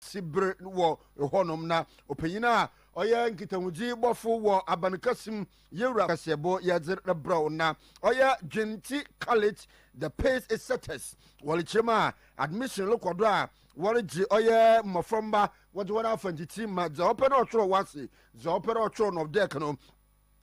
si bere wɔ hɔnom na ɔpanyin a ɔyɛ nkitahodzi bɔfo wɔ aban kɛse mu yewura kaseɛbɔ yɛdze rebrɛw na ɔyɛ dwentsi Khalid the Pace Setters wɔrekyerɛ mu a admission rekɔ do a wɔregye ɔyɛ mmɔframma wɔdze hɔn afa ntsitsi ma dza ɔpɛ na ɔtwerɛ wɔ ase dza ɔpɛ na ɔtwerɛ no ɔdɛk no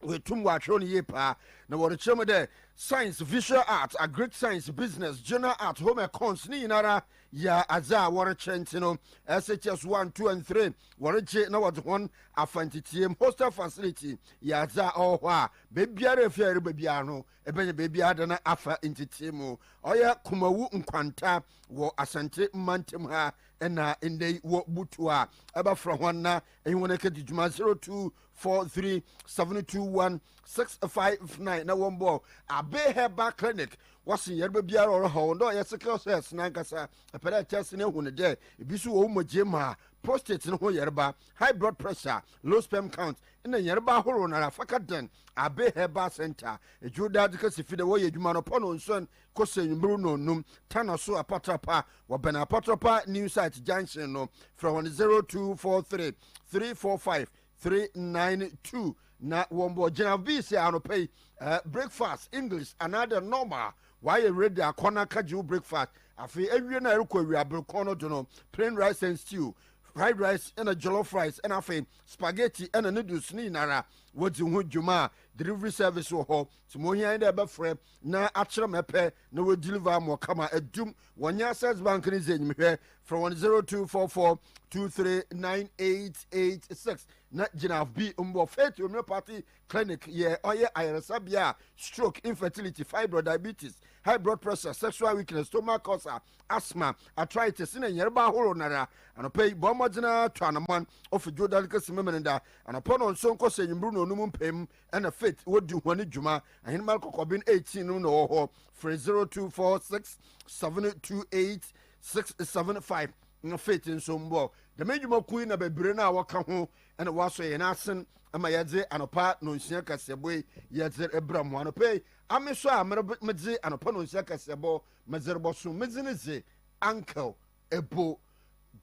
Woetum wɔakyerɛw no yie paa, na wɔrekyerɛ mu dɛ Science, Visual Art, Agric Science, Business, General Art, Home Econs ne nyinara yɛ adze a wɔrekyerɛ ntsi no, SHS one, two and three wɔregye na wɔdze hɔn afa ntsetsieem. Hostel facility yɛ adze a ɔwɔ hɔ a beebiara efi a ereba biara no ebenya beebi adan afa ntsetsieem mu. Ɔyɛ Kumawu nkwanta wɔ Asante mantamu ha na ndɛ yi wɔ Butu a ebɛfora hɔn na enye hɔn ekedzi dwuma zero two four three seven two one six five nine na wɔn bɔ abe herbal clinic wɔsi yɛreba biara ɔrɔ hɔ wɔn dɛ ɔyɛ sickle cells nankasa ɛpɛ dɛ test ne hu ne dɛ ebi nso wɔ wɔn mu gye maa prostate no ho yɛreba high blood pressure low sperm count ɛna yɛreba ahorow nara faka den abe herbal center edwuro daa de kasi fi dɛ wɔyɛ adwuma no pɔ no nson kɔsi anwummerɛ nnɔnnum, Tana so Apatra Pa, wɔbɛn Apatra Pa New Site Junction no. Frɛ wɔn 0243 345 392 na wɔn bɔ gyina bi sɛ anɔpa yi eh, breakfast English anaadɛ normal wayɛ ready akɔ na ka gye wo breakfast afei awie na ɛrekɔ awie aberekɔn no do no plain rice and stew fried rice ɛna jollof rice ɛna afei spaghetti ɛna noodles ne nyinara wɔdzi ho dwuma a delivery service wɔ hɔ Nti mohia nye dɛ bɛfrɛ na akyerɛ ma epɛ na wo deliver ama wo kama edum. Wɔnye Access Bank ne dzi enyim hwɛ. Frɛ hɔn zero two four four two three nine eight eight six na gyina fb mbɔ. Faith Homeopathy Clinic yɛ ɔyɛ ayarsabea a stroke, infertility, fibroid, diabetes, high blood pressure, sexual weakness, stomach ulcer, asthma, arthritis na nyarba ahorow nara. Anɔpa yi bɔ mbɔdzen ara tu anamɔn ofi Dwowda no kesi Memeneda anɔpa na ɔnnsɔn nkɔsi ewimbir na onum mpaemu ɛna faith wɔdi ho ne dwuma ahenemar kɔkɔben 18 no na ɔwɔ hɔ frɛ 0246 728 675 na faith nso mbɔ dɛm adwuma kuo yi na bebree no a wɔka ho ɛna wɔasɔ yɛn asen ma yɛdze anɔpa nonsia kaseɛbɔ yi yɛdze rebra mu anɔpa yi ame so a medze anɔpa nonsia kaseɛbɔ medze rebɔso medze ne dze uncle ɛbɔ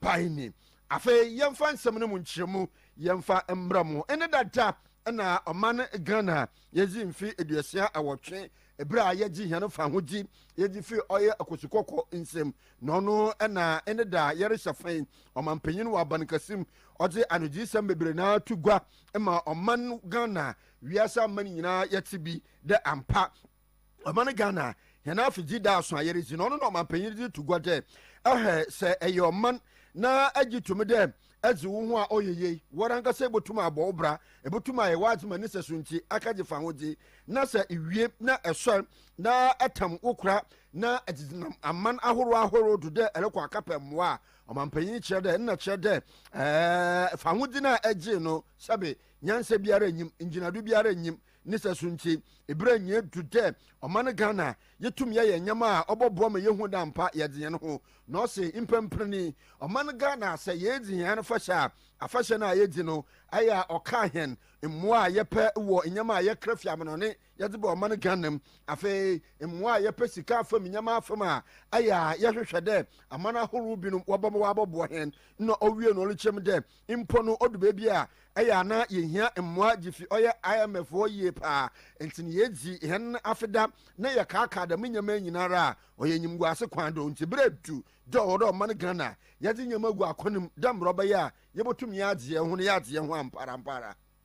ban ni. Afei yɛmfa nsɛm no mu nkyerɛmu yɛmfa mmra mu. Ɛne dada na ɔman Ghana yɛdzi mfe eduosia awɔtwe eberɛ a yɛgye hɛn fahodzi yɛdzi fi ɔyɛ Akwasu Kɔkɔ nsam na ɔno na ɛne da yɛrehyɛ fɛn ɔmanpanyin wɔ abankɛse mu ɔdze anogyeesɛm bebree no ara to gua ma ɔman Ghana wiase aman nyinaa yɛtse bi dɛ ampa Ɔman Ghana hɛn afedzi da aso a yɛredzi no, ɔno na ɔmampanyin dze to gua dɛ hwɛ sɛ eyɛ ɔman na egye to mu dɛ edze wo ho a ɔyɛ yie, woarankasa ibotum abɔ wo bra, ibotum ayɛ w'adze ma ne sɛso ntsi aka dze fa ahodze, na sɛ iwie na esoɛr na etam wo kora na edze nam aman ahorow ahorow do dɛ erokɔ akɛpɛ mboa a, ɔmampanyin kyerɛ dɛ nna kyerɛ dɛ fa ahodze no a egyee no sɛbe nyansa biara nnyim, ngyinado biara nnyim, ne sɛso nti, eberɛ nyɛ du dɛ ɔman Ghana yɛtum yɛyɛ nyɛma a ɔbɔboa ma yɛhu dɛ ampa yɛdze hɛn ho na ɔse mpɛnpren yi ɔman Ghana sɛ yɛedzi hɛn afahyɛ a afahyɛ no a yɛdzi no ayɛ a ɔkaa hɛn mboa a yɛpɛ wɔ nyɛma a yɛkra fi amanɔne yɛdze ba ɔman Ghana mu afei mboa a yɛpɛ sika afam nyɛma afam a ayɛ a yɛhwehwɛ dɛ aman ahorow binom wɔbɔboa hɛn na ɔwie no ɔrekyerɛ mu dɛ Mpo no odu beebi a, ɛyɛ a na yehia mboa dzifi ɔyɛ IMF hɔ yie paa. Ntsi no yedzi hɛn afe da na yɛkaakaa dɛm ndzɛmba yi nyinara a, ɔyɛ enyimguase kwan do. Ntsi ber edu dɛ ɔwɔ dɛ ɔman Ghana yɛdze ndzɛmba gu akwan mu dɛ mbrɛ ɔbɛyɛ a yebotum yɛadze hɛnho na yɛadze hɛnho amparampara.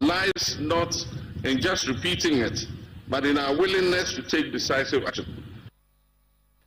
lies not in just repeating it but in our willingness to take decisive action.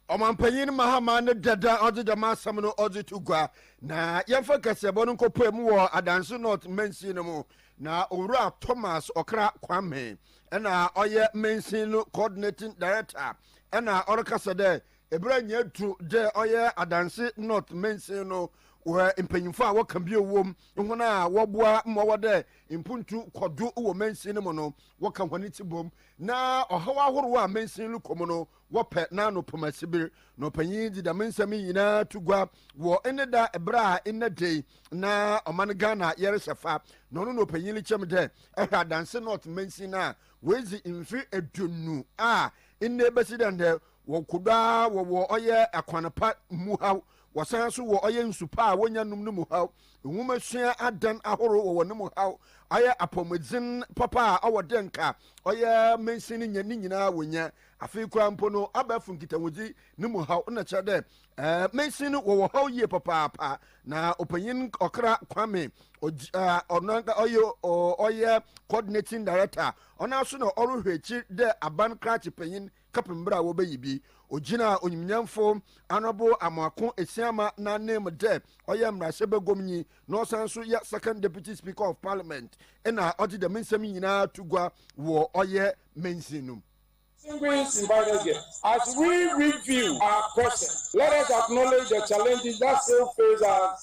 Ɔmampanyin Mahama ne dada a ɔdze dɛm asɛm no ɔdze to gua. Na yɛmfa kaseɛbɔ no nkɔpae mu wɔ Adanse North mansin no mu. Na Owura Thomas Ɔkra Kwame na ɔyɛ mansin no coordinating director na ɔrekasa dɛ Eberɛ nyɛ du dɛ ɔyɛ adanse North mansin no wɔ mpanyimfo a wɔka bio wom, hɔn a wɔboa ma ɔwɔ dɛ mpontu kɔ do wɔ mansin no mu no, wɔka hɔn tsibɔm, na ɔhaw ahorow a mansin rokɔ mu no, wɔpɛ n'ano poma sibir. Na ɔpanyin yi dze dɛm nsɛm yi nyina to gua wɔ ne da ber a ndɛ da yi na ɔman Ghana yɛrehyɛ fa, na ɔno na ɔpanyin rekyerɛ me dɛ ɔhwɛ adanse North mansin no a oedzi mfe eduonu a ndɛ besi dɛ ndɛ Wɔ kodo ara wɔ wɔ ɔyɛ akwan pa mu haw, wɔsan nso wɔ ɔyɛ nsu pa a wɔnya num no mu haw. Nwomasua adan ahorow wɔ wɔ no mu haw, ɔyɛ apɔwmudzen papa a ɔwɔ dɛ nka ɔyɛ mansin no nya ne nyina wɔnya. Afei koraa mpo no, abɛɛfo nkitahodzi no mu haw na kyerɛ dɛ mansin no wɔ wɔ haw yie papaapa. Na Ɔpanyin Ɔkra Kwame Ɔdzi a ɔno ɔyɛ ɔyɛ Coordinating Director, ɔnoara so na ɔrohwɛ ekyir dɛ aban krakye panyin, kɛpem ber a wɔbɛyi bi. Ogyinaa onyimnyamfo Honourable Amoako Esiama n'ananmu dɛ ɔyɛ mbrahyɛbaguamnyi na ɔsan so yɛ Second Deputy Speaker of Parliament na ɔdze dɛm nsɛm yi nyina to gua wɔ ɔyɛ mansin no mu. Distinguished invited guests, as we review our present, let us acknowledge the challenges that still face us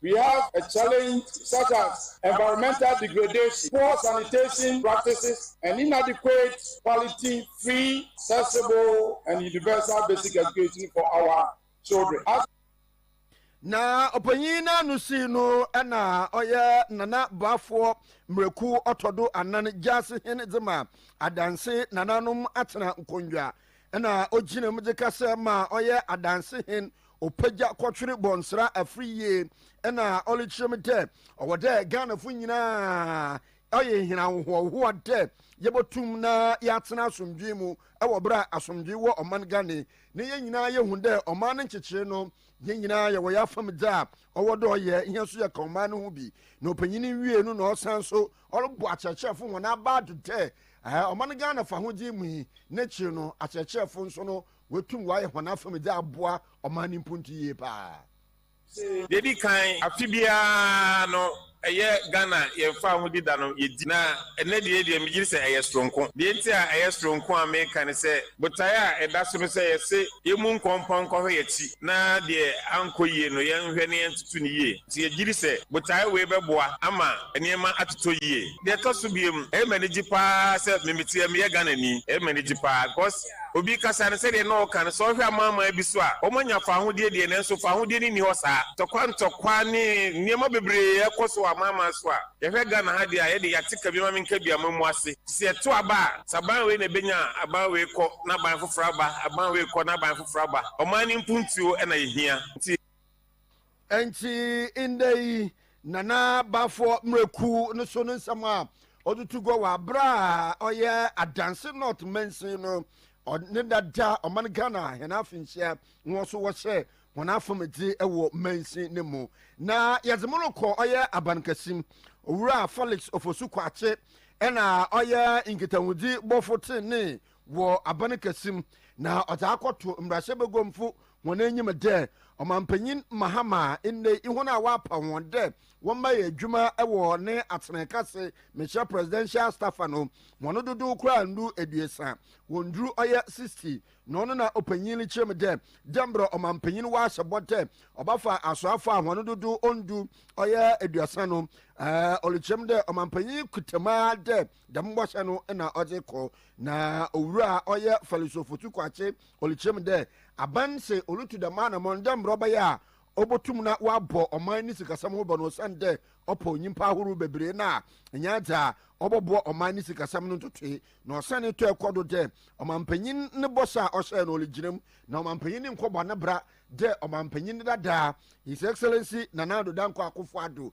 We have a challenge such as environmental degradation, poor sanitation practices and inadequate quality free, accessible and universal basic education for our children. As Na ɔpanyin n'ano sii no na ɔyɛ Nana Boafoɔ Mmerɛku Ɔtɔdo Anan Gyaase Hene dze ma Adanse nananom atsena nkonnwa na ogyinam dze kasa ma ɔyɛ Adanse Hen Opegya kɔtwere bɔnsera afiri yie ɛna ɔlekyerɛ mu dɛ ɔwɔ dɛ Ghanafo nyinaa ɔye hɛn ahohoahoa dɛ yɛbɔtum na yɛatsena asomdwee mu wɔ ber a asomdwee wɔ ɔman Ghane na yɛn nyinaa yehu dɛ ɔman no nkyekyere no yɛn nyinaa yɛwɔ yɛafam dze a ɔwɔ dɛ ɔyɛ hɛn so yɛka ɔman no ho bi na opanyin no wiee no na ɔsan so ɔrobɔ akyerɛkyerɛfo hɔn abaa do dɛ ɔman Ghana fahodzi mu yi n'ekyir no akyerɛkyerɛfo nso no Woetum wɔayɛ hɔn afamu dze aboa ɔman no mpontu yie paa. Dza edi kan, afe biara no ɛyɛ Ghana yɛn Fahodzi da no yɛdi, na ɛnnɛ deɛ deɛ megye di sɛ ɛyɛ soronko. Deɛ nti a ɛyɛ soronko a meka ne sɛ, botaeɛ a ɛda so no sɛ yɛse yɛmmu nkɔmpɔn nkɔhwɛ yɛn akyi na deɛ ankɔ yie no yɛnhwɛ na yɛntoto no yie. Nti yɛgye di sɛ botaeɛ wei bɛboa ama nneɛma atotɔ yie. Deɛ ɛtɔ so biom, ɛyɛ me anigye paa sɛ memeteɛ meyɛ Ghanani. Ɛyɛ me anigye paa because Obi kasa no sɛdeɛ na ɔka no, sɛ wohwɛ amanaman bi so a, wɔanya fawohodie deɛ, nanso fawohodie no nni hɔ saa. Ntɔkwa ntɔkwa ne nneɛma bebree ɛkɔ so wɔ amanaman so a, yɛhwɛ Ghana ha deɛ a, yɛde yɛate ka bi ma menka bi a moamu ase. Sɛ ɛto aba a, sɛ aban wei na ɛbɛnya a, aban wei kɔ na aban foforɔ aba, aban wei kɔ na aban foforɔ aba. Ɔman no mpuntuo na yɛhia. Nti. Ɛnti ndɛ yi Nana Baffour mmerɛ kuw no so no nsɛm a ɔde tu gua wɔ aberɛ a ɔyɛ Adanse North mansin no ne dada ɔman Ghana hɛn afenhyia hɔn so wɔhyɛ hɔn afomdze wɔ mansin no mu na yɛdze mo rokɔ ɔyɛ Abankɛse mu. Owura Felix Ofosu Kwakye na ɔyɛ nkitahodzi bɔfo tsenenee wɔ aban kɛse mu, na ɔdze akɔto mbrahyɛbaguamfo hɔn enyim dɛ Ɔmampanyin Mahama ndɛ yi hɔn a ɔapaw hɔn dɛ wɔmba yɛ edwuma wɔ ne atsenaaka ase mehyɛ presidential staffer no hɔn dodow koraa nndu eduesa, wonndur ɔyɛ sixty, na ɔno na ɔpanyin no kyerɛ mu dɛ dɛ mbrɛ Ɔmampanyin ɔahyɛ bɔ dɛ ɔbɛfa asoafo a hɔn dodow onndu ɔyɛ eduasa no, ɔrekyerɛ mu dɛ Ɔmampanyin kuta mu ara dɛ. Dɛm bɔhyɛ no na ɔdze kɔ, na owura a ɔyɛ Farisifo tukwakye ɔrekyerɛ mu dɛ aban se orutu dɛm anamɔn dɛ mbrɛ ɔbɛyɛ a obotum na ɔabɔ ɔman ne sikasɛm ho ban no osiandɛ ɔpɔw nyimpa ahorow beberee no a nnyɛ adze a ɔbɔboa ɔman ne sikasɛm no ntotoe. Na ɔsan tɔe kɔ do dɛ ɔmampanyin ne bɔhyɛ a ɔhyɛe no origyina mu, na ɔmampanyin no nnkɔbɔ ne bra dɛ ɔmampanyin dada, His Excellency Nana Addo Dankwa Akufo-Addo.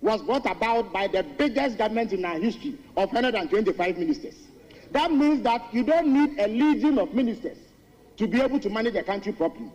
was brought about by the biggest government in our history of one hundred and twenty five ministers that means that you don't need a legion of ministers to be able to manage the country properly.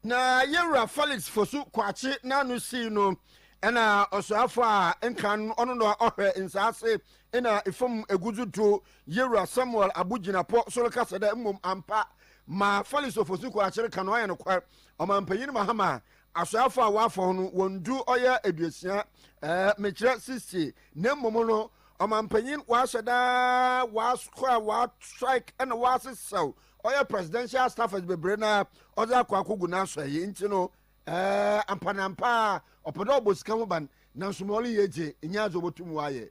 Na yɛn wura Felix Fosu Kwakye n'ano sii no na ɔsoafo a nkan ɔno na ɔhwɛ nsaase na efam egudzu do yɛn wura Samuel Abu Gyinapɔ so rekasa dɛ mmom ampa ma Felix Ofosu Kwakye reka no ɔyɛ nokwar ɔmampanyin Mahama Asoafo a wɔafɔw no, wɔn du ɔyɛ aduosia, ɛɛ, mekyerɛ sixty, na mmom no, ɔmampanyin wɔahyɛ daa wɔakɔ a wɔastrike ɛna wɔasesɛw ɔyɛ presidential staffers bebree na ɔdze akɔ akogu n'asɔɛe nti no, ɛɛ, ampaneampa ara ɔpɛ dɛ ɔbɔ sika ho ban, nanso ma ɔreyɛ dze, nnyɛ adze a obotum ɔayɛ.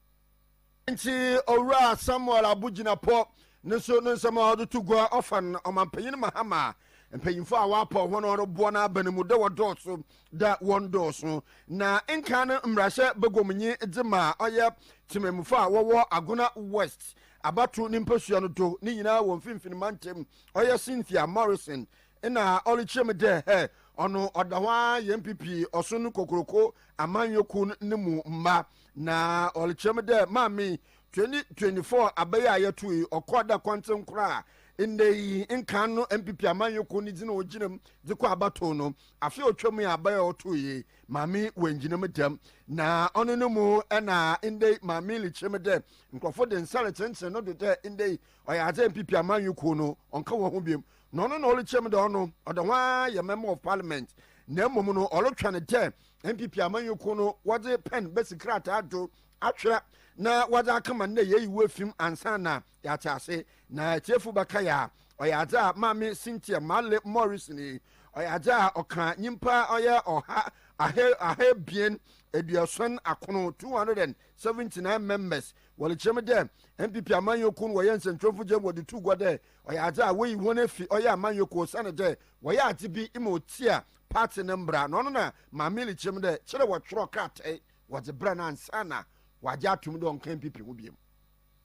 Nti Owura Samuel Abogyinapɔ no nso no nsɛm a ɔde to gua ɔfa no ɔmampanyin Mahama mpanyimfo a wɔapaw hɔn a wɔroboa n'aba no mu dɛ wɔdɔɔso dɛ wɔndɔɔso na nkan no mbrahyɛ baguam nye dze ma ɔyɛ tsemammufo a wɔwɔ Agona West abato ne mpasua no do ne nyinaa wɔ mfinfin mantam ɔyɛ Cynthia Morrison na ɔrekyerɛ mu dɛ hɛ ɔno ɔda hɔ ara yɛ NPP ɔson kokroko amanyɔ kuw no mu mma. Na ɔrekyerɛ me dɛ maame yi twenty twenty four aber yi a yɛtoo yi ɔkɔɔ dɛ kɔntsen kor a ndɛ yi nkan no NPP amanyɛkuw ne dzin a ogyina mu dze kɔ abatow no afe a otwa mu yi aber a ɔtoo yi maame yi oenngyina mu dɛm na ɔno no mu na ndɛ yi maame yi rekyerɛ me dɛ nkorɔfo dze nsa retsentseen no do dɛ ndɛ yi ɔyɛ adze a NPP amanyɛkuw no ɔnnka hɔnho biom na ɔno na ɔrekyerɛ me dɛ ɔno ɔdɛ ho ara yɛ Member of Parliament na mbom no ɔrotweɔn dɛ NPP amanyɔkuo no wɔdze pɛn bɛsi krataa do atwerɛ na wɔdze akama no dɛ yɛyi wo efi mu ansa na yɛatse ase na etsiefo bɛkae a. Ɔyɛ adze a Maame Cynthia Marley Morrison yi, ɔyɛ adze a ɔkã nyimpa ɔyɛ ɔha aha ahaebien eduosuon akron, 279 members, wɔdze kyerɛ mu dɛ NPP amanyɔkuo no wɔyɛ nsɛnkyerɛwfo gye wɔdze too gua dɛ ɔyɛ adze a woeyi hɔn efi ɔyɛ amanyɔkuo osiandɛ wɔyɛ adze bi ma otsia Party no mbra na ɔno na Maa Milly kyerɛm dɛ kyerɛ wɔtwerɛ kratae wɔdze brɛ no ansaana wɔagye ato mu dɛ ɔnnkã NPP ho biom.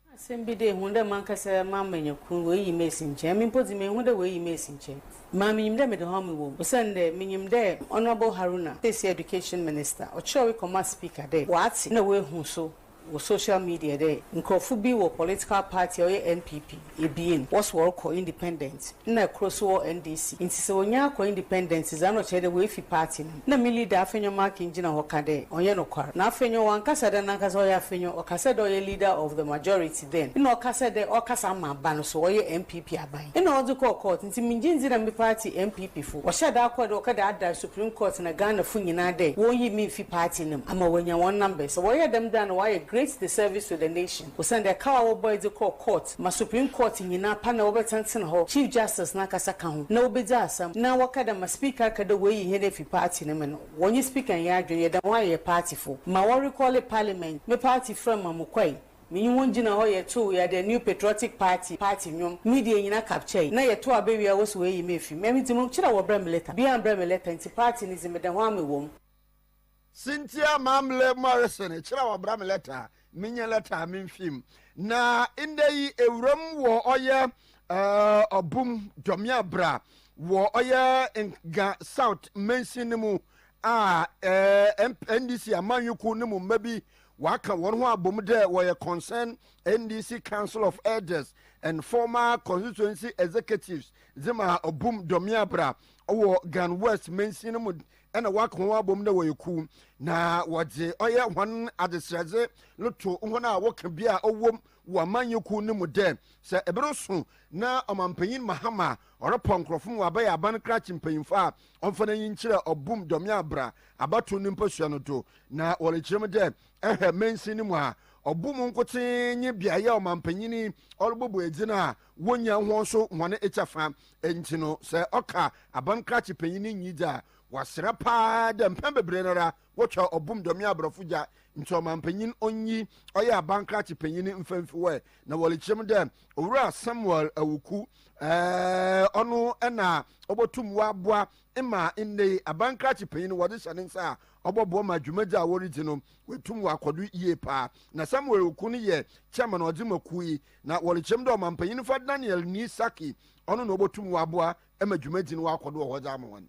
Nna asɛm bi dɛ ehu dɛ mankasa m'amanya kun woeyi me esi nkyɛn. Emi mpo dze mennhu dɛ woeyi me esi nkyɛn. Mmaa minyim dɛ mede hɔ a mowɔ mu osiandɛ minyim dɛ Honourable Haruna, sesei Education Minister, ɔkyerɛwee kɔmaa Speaker dɛ ɔatse na oehu so wɔ social media dɛ nkorɔfo bi wɔ political party a ɔyɛ NPP ebien, wɔse wɔrokɔ independent nna kor so wɔ NDC ntsi sɛ wonnyaa akɔ independent dze a nna ɔkyerɛ dɛ woefi party no mu. Nna me leader Afenyo Markin gyina hɔ ka dɛ ɔnnyɛ nokwar. Na Afenyo ɔannkasa dɛ nankasa ɔyɛ Afenyo, ɔkasa dɛ ɔyɛ leader of the majority. dɛn? Nna ɔka sɛ dɛ ɔrekasa ama aban no so, ɔyɛ NPP aban. Nna ɔdze kɔɔ court, ntsi menngye nndzi dɛ me party NPP fo. Ɔhyɛɛ da kɔr dɛ ɔkɔ dɛ aada Supreme Court na Ghana fo nyina dɛ wonnyi me mfi party no mu ama woenya hɔn numbers. Sɛ wɔyɛɛ dɛm dze a nna wɔayɛ great disservice to the nation osiandɛ kaw a wɔbɔe dze kɔr court ma Supreme Court nyina pa na wɔbɛtsenatsena hɔ, Chief Justice nankasa ka ho, na wobedzi asɛm na wɔka dɛ ma Speaker ka dɛ woeyi hɛn efi party no mu no, wɔnye Speaker nnyɛ adwen, yɛda hɔn a yɛyɛ party fo. Ma wɔrecɔle parliament, me party frɛɛ me ma mokɔe. Menye hɔn gyina hɔ yɛtow yɛ The New Patriotic Party party ndwom, media nyina capture na yɛtow abewia wɔse woeyi me efi mu. Emi dze mokyerɛ wɔbrɛ me letter, bia ammbrɛ me letter ntsi party no dze meda ho a mowɔ mu. Cynthia Mamle Morrison kyerɛ wɔbrɛ me letter a menye letter a memmfi mu na ndɛ yi ewura mu wɔ ɔyɛ ɔbo mu dɔ me a bra wɔ ɔyɛ Nga South mansin no mu a NDC amanyɔkuw no mu mba bi Wɔaka hɔn ho abɔ mu dɛ wɔyɛ Concern NDC Council of Elders and former Constituency Executives dze ma Obum Dɔmeabra wɔ Gan West mansin no mu na wɔaka hɔn abɔ mu dɛ wɔyɛ kuw na wɔdze ɔyɛ hɔn adzeserɛdze no to hɔn a wɔka bi a ɔwɔ mu wɔ amanyɛkuw no mu dɛ sɛ ber so na Ɔmampanyin Mahama Ɔrepɔ nkorɔfo ma wɔabɛyɛ aban krakye mpanyimfo a ɔmfa n'enyi nkyerɛ ɔbo mu dɔme abra abatow no mpasua no do, na wɔrekyerɛ mu dɛ, Ehwɛ mansin no mu a, ɔbo mu nkotsee nye beae a ɔmampanyin yi ɔrobɔbɔ edzi no a wonnya hɔn so hɔn kyɛfa. Ntsi no, sɛ ɔka aban krakye panyin no nyi dze a, wɔasera paa dɛ mpɛn beberee noara Wɔtwa ɔbom dɔme aborɔfo gya nti ɔmampanyin onnyi ɔyɛ abankrakye panyin mfa mfi hɔ ɛ na wɔrekyerɛ mu dɛ Owura Samuel Awuku ɛɛɛ ɔno na obotum ɔaboa ma ndɛ yi abankrakye panyin no wɔdze hyɛ ne nsa a ɔbɔboa ma dwumadzi a woridzi no oetum ɔakɔ do yie paa na Samuel Awuku no yɛ chairman a ɔdze ma kuw yi na wɔrekyerɛ mu dɛ ɔmampanyin fa Daniel Nii Sackey ɔno na obotum ɔaboa ma dwumadzi no ɔakɔ do wɔ hɔ dze ama hɔn.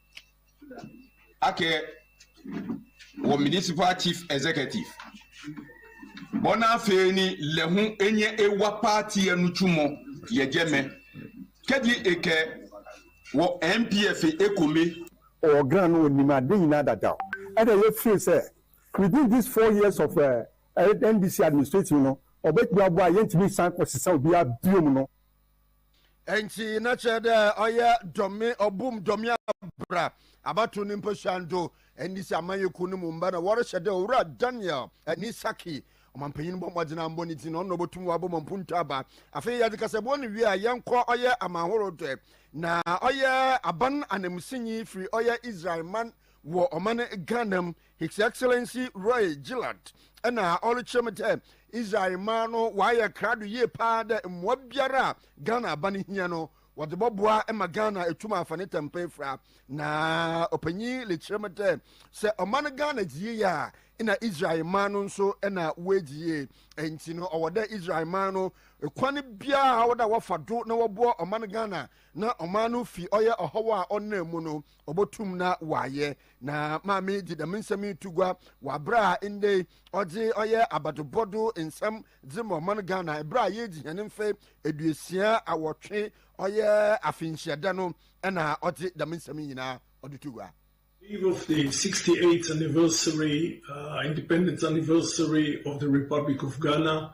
akɛ wɔ Municipal Chief Executive bɔ na afei ni lɛ ho enye ewa paati ɛnu twumɔ yɛgyɛ mɛ kɛdi ekɛ wɔ NPF ekome. Ɔgran no ɔnim ade nyinaa dada o ɛna yɛ feel sɛ within this four years of NDC administrating no ɔbɛtumi aboa yɛntumi nsan kɔsesa obiara biom no. Ntsi na kyerɛ dɛ ɔyɛ dɔme ɔbom dɔme abra abato ne mpasuan do ndze si amanyɛkuw no mu mba na wɔrehyɛ dɛ Owura Daniel nye Saki ɔmampanyin bɔ mbɔdzen ambɔ ne dzin na ɔno na obotum ɔabɔ ma mpontu aba. Afei yɛdze kasabu ano wie a, yɛnkɔ ɔyɛ amanhorow do na ɔyɛ aban ananmusinyi fir ɔyɛ Israelman wɔ ɔman Ghana mu, His Excellency Roy Gillard na ɔrekyerɛ me dɛ Israel mmaa no wɔayɛ krado yie paa dɛ mmoa biara a Ghana aba no hia no wɔde bɔboa ma Ghana etum afa ne tɛmpɛ efura. Na ɔpanyin rekyerɛ me dɛ sɛ ɔman Ghana dzi yie a nna Israel mmaa no nso na woedzi yie. Ntsi no ɔwɔ dɛ Israel mmaa no kwan biara a ɔwɔ dɛ wɔfa do na wɔboa ɔman Ghana na ɔman no fi ɔyɛ ɔhaw a ɔnam mu no obotum na ɔayɛ. Na Maame yi dze dɛm nsɛm yi to gua wɔ aber a ndɛ yi ɔdze ɔyɛ abadobɔ do nsɛm dze ma ɔman Ghana ber a yeedzi hɛn mfe eduosia awɔtwe ɔyɛ afenhyiada no na ɔdze dɛm nsɛm yi nyina ɔdze to gua. Eve of the sixty eighth anniversary, uh, independence anniversary of the Republic of Ghana,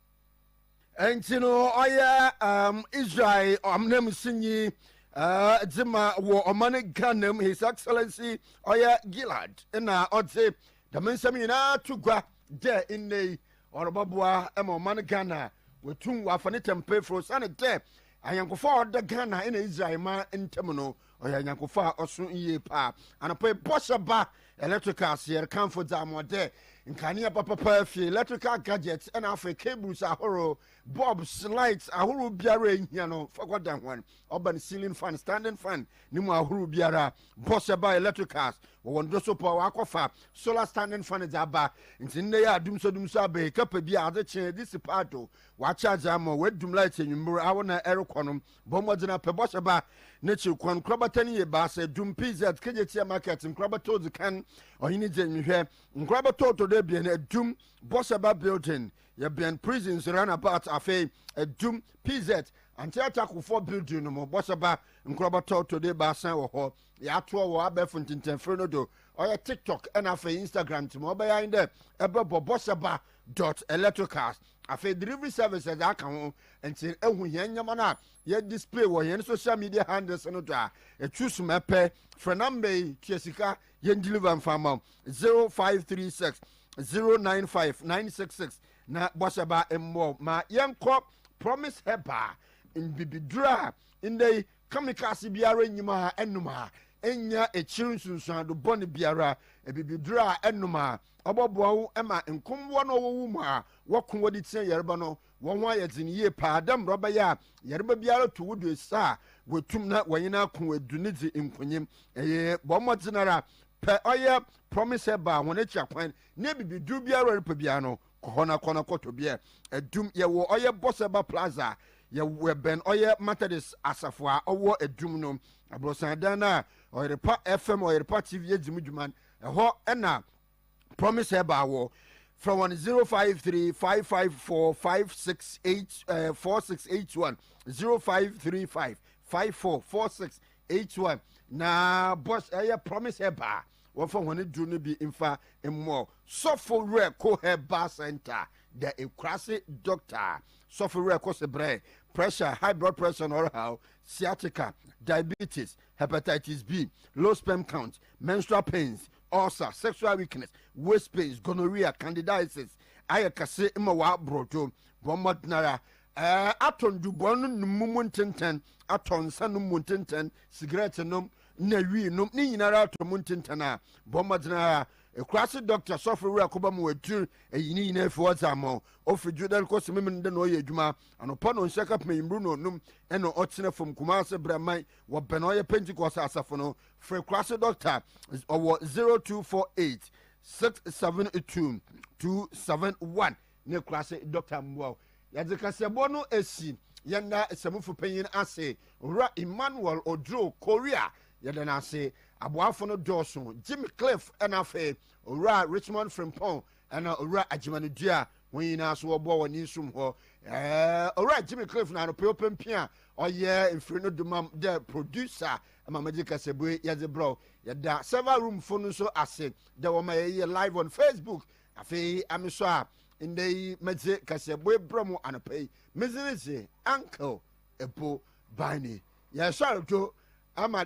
nti no ɔyɛ um, israel ɔnanmusinyi uh, dze ma wɔ ɔman ghana mu his excellency ɔyɛ gilad na ɔdze dɛm nsɛm nyinaa to gua dɛ nnɛ yi ɔrobɔboa ma ɔman ghana wɔtum wɔafa ne tɛmpefo sane dɛ ayɛnkofo a ɔda ghana na israel ma ntam no Ɔyɛ nyankofo a ɔso yie paa. Anɔpa yi bɔhyɛ ba electricals yɛre kanfo dza mo dɛ nkanea papapaa fie electrical gadgets ɛna afei cables ahorow bulbs lights ahorow biara ehia no fakɔ dan hɔn ɔban ceiling fan standing fan ne mu ahorow biara bɔhyɛ ba electricals wɔ wɔn do so pɔ wakɔfa solar standing fan dza aba nti nnɛ yɛ adum so dum so abɛyi kapa bi a adze kyen dze si paa do wakyɛ adze ama wadum light enyimbor awo na ɛrekɔ no Bɔ mmɔden ara pɛ bɔhyɛ ba n'ekyir kwan. Nkorabata no yɛ ebiasa, Dum, PZ, Kejetia Market, Nkorabata odzi kan, Ɔhene Gye Nhwɛ, Nkorabata ɔtɔ do ebien, Dum, Bɔhyɛ ba Building, yɛbɛn Prisons Runabout, afei, Dum, PZ, Anteatakufo Building no mu. Bɔhyɛ ba Nkorabata ɔtɔ do ebiasa wɔ hɔ. Yɛatoa wɔ abɛɛfo ntsɛntsɛnfir no do, ɔyɛ TikTok na afei Instagram, ntsi ma ɔbɛyɛ ara nye dɛ ebɔbɔ bɔhyɛ ba dot electricals. Afei delivery service dze aka ho. Ntsi ehu hɛn ndzɛmba no a yɛ display wɔ hɛn social media handles no do a, choose ma epɛ. Frɛ number yi, tua sika, yɛn deliver mfa mma wo, zero five three six zero nine five nine six six, na bɔhyɛ ba mboa wo ma yɛnkɔ Promise Herbal mbibidur a ndɛ yi Kamikaase biara nnyim ha, ɛnom ha. Nnya ekyir nsunsuando bɔn biara. Ebibidur a ɛnom ha. Ɔbɔboa wo ma nkombowa no ɔwɔ wo mu a wɔkõ wɔdze tsia yarba no, hɔnho ayɛ dzen yie paa dɛ mbrɛ ɔbɛyɛ a yarba biara to wo do esa a, woetum na wɔnye no akõ edu no dzi nkonyim. Eye, bɔ mbɔdzen ara pɛ ɔyɛ Promise Herbal hɔn ekyir akwan na ebibidur biara a erepɛ biara no, Kɔhɔ na kɔ na kɔ tɔ beer. Adum, yɛwɔ ɔyɛ Bɔsɛba Plaza, yɛbɛn ɔyɛ Methodist asafo a ɔwɔ Adum no. Abrɔsan dan no a Ɔyerepa FM, Ɔyerepa TV edzi mu dwuma no, ɛhɔ na Promise Herbal wɔ. Frɛ hɔn zero five three five five four five six eight ɛɛ four six eight one zero five three five five four four six eight one na bɔs ɛyɛ Promise Herbal. Wɔmfa hɔn edur no bi mfa mmɔ sɔfo werɛ Koher Bar Center dɛ ekuraase dɔkta a sɔfo werɛ kɔ so brɛ pressure, high blood pressure na ɔrehaw, sciatica, diabetes, hepatitis B, low sperm count, menstrual pains, ulcer, sexual weakness, waist pains, gonorrhea, candidiasis, ayɛ kɛse ma wɔaboro do. Bɔ mbɔdzen ara atɔ ndubɔn no mu ntsentsen, atɔ nsa no mu ntsentsen, sigarɛtsenom, na wii nom ne nyinara atɔ mu ntentan a, bɔ mmɔden ara ekuraase dɔkta sɔfo wura kɔba mu atir eyi ne nyinaa fi hɔ dze ama wo. Ofi Dwodan kɔ Sememene dɛ na ɔyɛ edwuma anɔpa na ɔnhyia kapem eyimbir na ɔnum na ɔtsena famu Kumase Braman wɔ bɛn ɔyɛ Pentecost asafo no. Frɛ ekuraase dɔkta wɔ zero two four eight six seven two two seven one. Ne kura se doctor mmoa wo. Yɛdze kaseɛbɔ no esi yɛn da samufo panyin ase, Owura Emmanuel Oduro, Korea. Yɛda no ase. Aboafo no dɔɔso, Jimmy Cliff na afei Owura Richmond Frimpong na Owura Agyemanu Dua. Hɔn nyinaa so wɔboa wɔ ne som hɔ. Ɛɛ Owura Jimmy Cliff na anɔpa yi ɔpempe a ɔyɛ mfir no do mam dɛ producer ma medze kasabu yi yɛdze brɛ wo. Yɛda server room fo no nso ase dɛ wɔma yɛyɛ live on Facebook Afei a mesɔ a, ndɛ yi medze kaseɛboe brɛ mo anɔpa yi, medze no dze Uncle Epo Bani. Yɛsoar do ama.